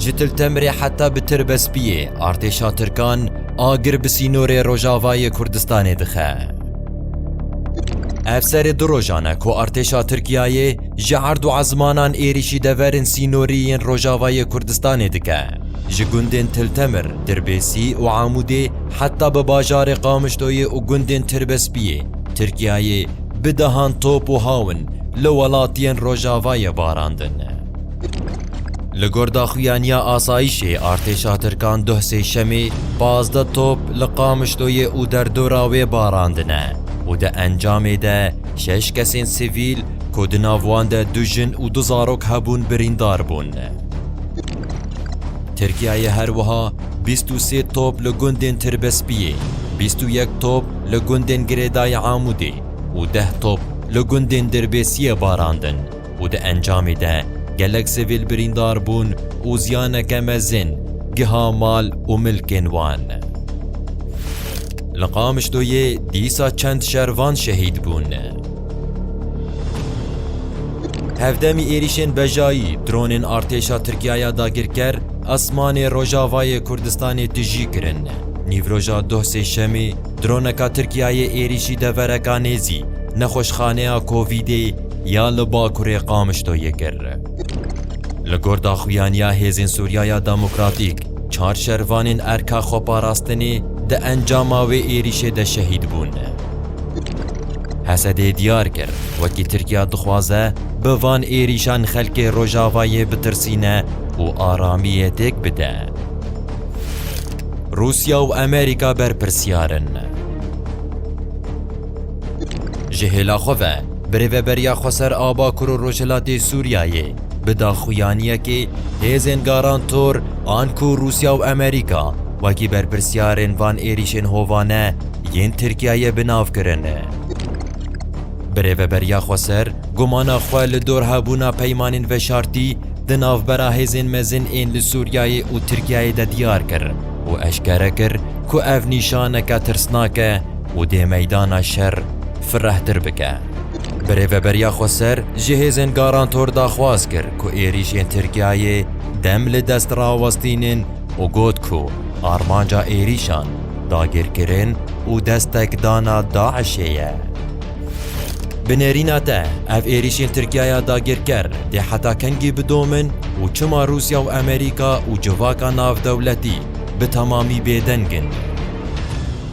Ji Til Temirê heta bi Tirbespiyê artêşa Tirkan agir bi sînorê rojavayê Kurdistanê dixe. Ev serê du rojan e ku artêşa Tirkiyeyê ji erd û ezmanan êrîşî deverên sînorî yên rojavayê Kurdistanê dike. Ji gundên Til Temir, Dirbêsî û Amûdê heta bi bajarê Qamişloyê û gundên Tirbespiyê, Tirkiyeyê bi dehan top û hawin li welatiyên rojavayê barandin. Li gor daxuyaniya asayîşê artêşa Tirkan duh sêşemê pazdeh top li Qamişloyê û derdora wê barandine û di encamê de şeş kesên sivîl ku di nav wan de du jin û du zarok hebûn birîndar bûn. Tirkiyeyê her wiha bîst û sê top li gundên Tirbespiyê, bîst û yek top li gundên Girêdayê Amûdê û deh top li gundên Dirbêsiyê barandin. û di encamê de gelek sivîl birîndar bûn û ziyaneke mezin giha mal û milkên wan. Li Qamişloyê dîsa çend şervan şehîd bûn. Hevdemî êrîşên bejayî dronên artêşa Tirkiyaya dagirker esmanê Rojavayê Kurdistanê tijî kirin. Nîvroja doh sêşemê droneka Tirkiyayê êrîşî devereka nêzî nexweşxaneya Kovîdê ya li Bakurê Qamişloyê kir. Li gor daxuyaniya Hêzên Sûriyaya Demokratîk, çar şervanên Erka Xweparastinê di encama wê êrîşê de şehîd bûn. Hesedê diyar kir, wekî Tirkiya dixwaze bi van êrîşan xelkê Rojavayê bitirsîne û aramiyê têk bide. Rûsya û Amerîka berpirsiyar in. Ji hêla xwe ve birêveberiya Xweser Abakûr û Rojhilatê Sûriyeyê bi daxuyaniyekê hêzên garantor an ku Rûsya û Amerîka wekî berpirsyarên van êrîşên hovane yên Tirkiyeyê bi nav kirin. Birêveberiya Xweser gumana xwe li dor hebûna peymanên veşartî di navbera hêzên mezin ên li Sûriyeyê û Tirkiyeyê de diyar kir û eşkere kir ku ev nîşaneke tirsnak e û dê meydana şer firehtir bike. Bi rêveberiya Xweser ji hêzên Garantor daxwaz kir ku êrîşên Tirkiyeyê dem li dest rawestînin û got ku armanca êrîşan dagirkirin û destekdana DAIŞ'ê ye. Bi nêrîna te ev êrîşên Tirkiyeya dagirker dê heta kengî bidomin û çima Rûsya û Amerîka û civaka navdewletî bi temamî bêdeng in?